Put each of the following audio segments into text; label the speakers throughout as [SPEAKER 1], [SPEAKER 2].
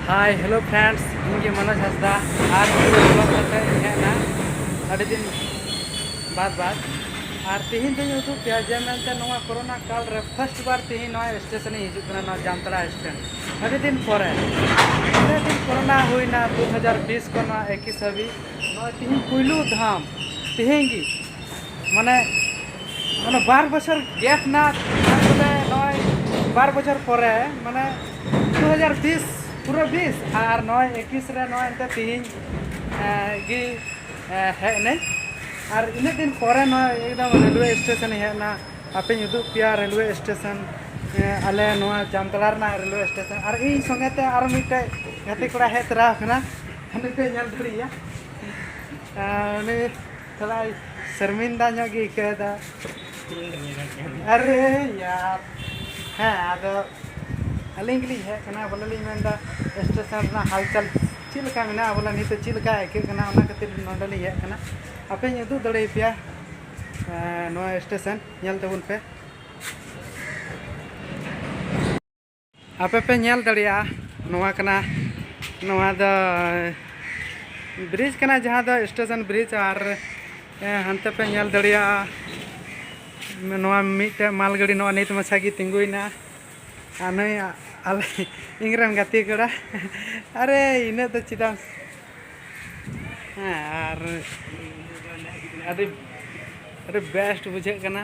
[SPEAKER 1] ᱦᱟᱭ hello friends ᱤᱧ ᱜᱮ ᱢᱚᱱᱳᱡᱽ ᱦᱟᱸᱥᱫᱟ ᱟᱨ ᱵᱞᱚᱜ ᱠᱟᱛᱮ ᱦᱮᱡ ᱮᱱᱟ ᱟᱹᱰᱤ ᱫᱤᱱ ᱵᱟᱫ ᱵᱟᱫ ᱟᱨ ᱛᱤᱦᱤᱧ ᱫᱚᱧ ᱩᱫᱩᱜ ᱯᱮᱭᱟ ᱡᱮ ᱢᱮᱱᱛᱮ ᱱᱚᱣᱟ ᱠᱚᱨᱳᱱᱟ ᱠᱟᱞ ᱨᱮ ᱯᱷᱟᱨᱥᱴ ᱵᱟᱨ ᱛᱤᱦᱤᱧ ᱱᱚᱣᱟ ᱥᱴᱮᱥᱚᱱ ᱤᱧ ᱦᱤᱡᱩᱜ ᱠᱟᱱᱟ ᱱᱚᱣᱟ ᱡᱟᱢᱛᱟᱲᱟ ᱥᱴᱮᱱᱰ ᱟᱹᱰᱤ ᱫᱤᱱ ᱯᱚᱨᱮ ᱛᱤᱱᱟᱹᱜ ᱫᱤᱱ ᱠᱚᱨᱳᱱᱟ ᱦᱩᱭᱱᱟ ᱫᱩ ᱦᱟᱡᱟᱨ ᱵᱤᱥ ᱠᱷᱚᱱ ᱱᱚᱣᱟ ᱮᱠᱤᱥ ᱦᱟᱹᱵᱤᱡ ᱱᱚᱣᱟ ᱛᱤᱦᱤᱧ ᱯᱩᱭᱞᱩ ᱫᱷᱟᱢ ᱛᱤᱦᱤᱧ ᱜᱮ ᱢᱟᱱᱮ ᱢᱟᱱᱮ ᱵᱟᱨ ᱵᱚᱪᱷᱚᱨ ᱜᱮᱯ ᱱᱟ ᱛᱟᱨᱯᱚᱨᱮ ᱱᱚᱜᱼᱚᱭ ᱵᱟᱨ ᱵᱚᱪᱷᱚᱨ ᱯᱚᱨᱮ ᱢᱟᱱᱮ ᱫᱩ ᱦᱟᱡᱟᱨ ᱵᱤᱥ ᱯᱩᱨᱟᱹ ᱵᱤᱥ ᱟᱨ ᱱᱚᱜᱼᱚᱭ ᱮᱠᱤᱥ ᱨᱮ ᱱᱚᱜᱼᱚᱭ ᱮᱱᱛᱮ ᱛᱤᱦᱤᱧ ᱜᱮ ᱦᱮᱡ ᱮᱱᱟᱹᱧ ᱟᱨ ᱤᱱᱟᱹᱜ ᱫᱤᱱ ᱯᱚᱨᱮ ᱱᱚᱜᱼᱚᱭ ᱮᱠᱫᱚᱢ ᱨᱮᱞᱣᱮ ᱥᱴᱮᱥᱚᱱᱤᱧ ᱦᱮᱡ ᱮᱱᱟ ᱟᱯᱮᱧ ᱩᱫᱩᱜ ᱯᱮᱭᱟ ᱨᱮᱞᱣᱮ ᱥᱴᱮᱥᱚᱱ ᱟᱞᱮ ᱱᱚᱣᱟ ᱡᱟᱢᱛᱟᱲᱟ ᱨᱮᱱᱟᱜ ᱨᱮᱞᱣᱮ ᱥᱴᱮᱥᱚᱱ ᱟᱨ ᱤᱧ ᱥᱚᱸᱜᱮ ᱛᱮ ᱟᱨ ᱢᱤᱫᱴᱮᱡ ᱜᱟᱛᱮ ᱠᱚᱲᱟ ᱦᱮᱡ ᱛᱚᱨᱟ ᱟᱠᱟᱱᱟ ᱩᱱᱤ ᱯᱮ ᱧᱮᱞ ᱫᱟᱲᱮᱭᱟᱭᱟ ᱩᱱᱤ ᱛᱷᱚᱲᱟ ᱥᱚᱨᱢᱤᱱᱫᱟ ᱧᱚᱜ ᱜᱮ ᱟᱹᱭᱠᱟᱹᱣ ᱮᱫᱟ ᱟᱨᱮ ᱭᱟᱨ ᱦᱮᱸ ᱟᱫᱚ ᱟᱹᱞᱤᱧ ᱜᱮᱞᱤᱧ ᱦᱮᱡ ᱠᱟᱱᱟ ᱵᱚᱞᱮ ᱞᱤᱧ ᱢᱮᱱᱫᱟ ᱥᱴᱮᱥᱚᱱ ᱨᱮᱱᱟᱜ ᱦᱟᱞᱪᱟᱞ ᱪᱮᱫ ᱞᱮᱠᱟ ᱢᱮᱱᱟᱜᱼᱟ ᱵᱚᱞᱮ ᱱᱤᱛ ᱪᱮᱫ ᱞᱮᱠᱟ ᱟᱹᱭᱠᱟᱹᱜ ᱠᱟᱱᱟ ᱚᱱᱟ ᱠᱷᱟᱹᱛᱤᱨ ᱱᱚᱰᱮ ᱞᱤᱧ ᱦᱮᱡ ᱠᱟᱱᱟ ᱟᱯᱮᱧ ᱩᱫᱩᱜ ᱫᱟᱲᱮ ᱟᱯᱮᱭᱟ ᱱᱚᱣᱟ ᱥᱴᱮᱥᱚᱱ ᱧᱮᱞ ᱛᱟᱵᱚᱱ ᱯᱮ ᱟᱯᱮ ᱯᱮ ᱧᱮᱞ ᱫᱟᱲᱮᱭᱟᱜᱼᱟ ᱱᱚᱣᱟ ᱠᱟᱱᱟ ᱱᱚᱣᱟ ᱫᱚ ᱵᱨᱤᱡᱽ ᱠᱟᱱᱟ ᱡᱟᱦᱟᱸ ᱫᱚ ᱥᱴᱮᱥᱚᱱ ᱵᱨᱤᱡᱽ ᱟᱨ ᱦᱟᱱᱛᱮ ᱯᱮ ᱧᱮᱞ ᱫᱟᱲᱮᱭᱟᱜᱼᱟ ᱱᱚᱣᱟ ᱢᱤᱫᱴᱮᱱ ᱢᱟᱞ ᱜᱟᱹᱰᱤ ᱱᱚᱣᱟ ᱱᱤᱛ ᱢᱟᱪᱷᱟ ᱜᱮ ᱛᱤᱸᱜᱩᱭᱮᱱᱟ ᱟᱨ ᱱᱩᱭ ᱟᱞᱮ ᱤᱧᱨᱮᱱ ᱜᱟᱛᱮ ᱠᱚᱲᱟ ᱟᱨᱮ ᱤᱱᱟᱹᱜ ᱫᱚ ᱪᱮᱫᱟᱜ ᱦᱮᱸ ᱟᱨ ᱟᱹᱰᱤ ᱟᱹᱰᱤ ᱵᱮᱥᱴ ᱵᱩᱡᱷᱟᱹᱜ ᱠᱟᱱᱟ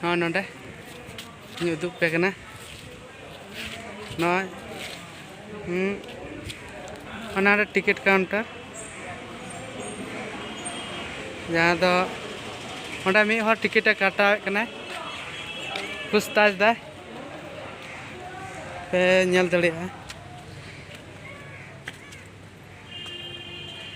[SPEAKER 1] ᱱᱚᱜᱼᱚᱭ ᱱᱚᱰᱮ ᱤᱧ ᱩᱫᱩᱜ ᱯᱮ ᱠᱟᱱᱟ ᱱᱚᱜᱼᱚᱭ ᱚᱱᱟᱨᱮ ᱴᱤᱠᱤᱴ ᱠᱟᱣᱩᱱᱴᱟᱨ ᱡᱟᱦᱟᱸ ᱫᱚ ᱚᱸᱰᱮ ᱢᱤᱫ ᱦᱚᱲ ᱴᱤᱠᱤᱴᱮ ᱠᱟᱴᱟᱣᱮᱫ ᱠᱟᱱᱟᱭ ᱯᱩᱥᱛᱟᱡᱽ ᱫᱟᱭ ᱯᱮ ᱧᱮᱞ ᱫᱟᱲᱮᱭᱟᱜᱼᱟ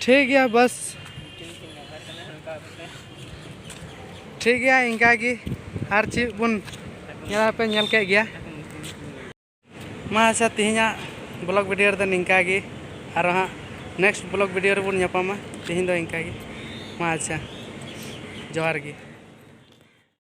[SPEAKER 1] ᱴᱷᱤᱠ ᱜᱮᱭᱟ ᱵᱟᱥ ᱴᱷᱤᱠ ᱜᱮᱭᱟ ᱤᱱᱠᱟ ᱜᱮ ᱟᱨ ᱪᱮᱫ ᱵᱚᱱ ᱧᱮᱞ ᱯᱮ ᱧᱮᱞ ᱠᱮᱫ ᱜᱮᱭᱟ ᱢᱟ ᱟᱪᱪᱷᱟ ᱛᱮᱦᱮᱧᱟᱜ ᱵᱞᱚᱜ ᱵᱷᱤᱰᱤᱭᱳ ᱨᱮᱫᱚ ᱱᱤᱝᱠᱟ ᱜᱮ ᱟᱨ ᱦᱟᱸᱜ ᱱᱮᱠᱥᱴ ᱵᱞᱚᱜ ᱵᱷᱤᱰᱤᱭᱳ ᱨᱮᱵᱚᱱ ᱧᱟᱯᱟᱢᱟ ᱛᱮᱦᱮᱧ ᱫᱚ ᱤᱱᱠᱟ ᱜᱮ ᱢᱟ ᱟᱪᱪᱷᱟ ᱡᱚᱦᱟᱨ ᱜᱮ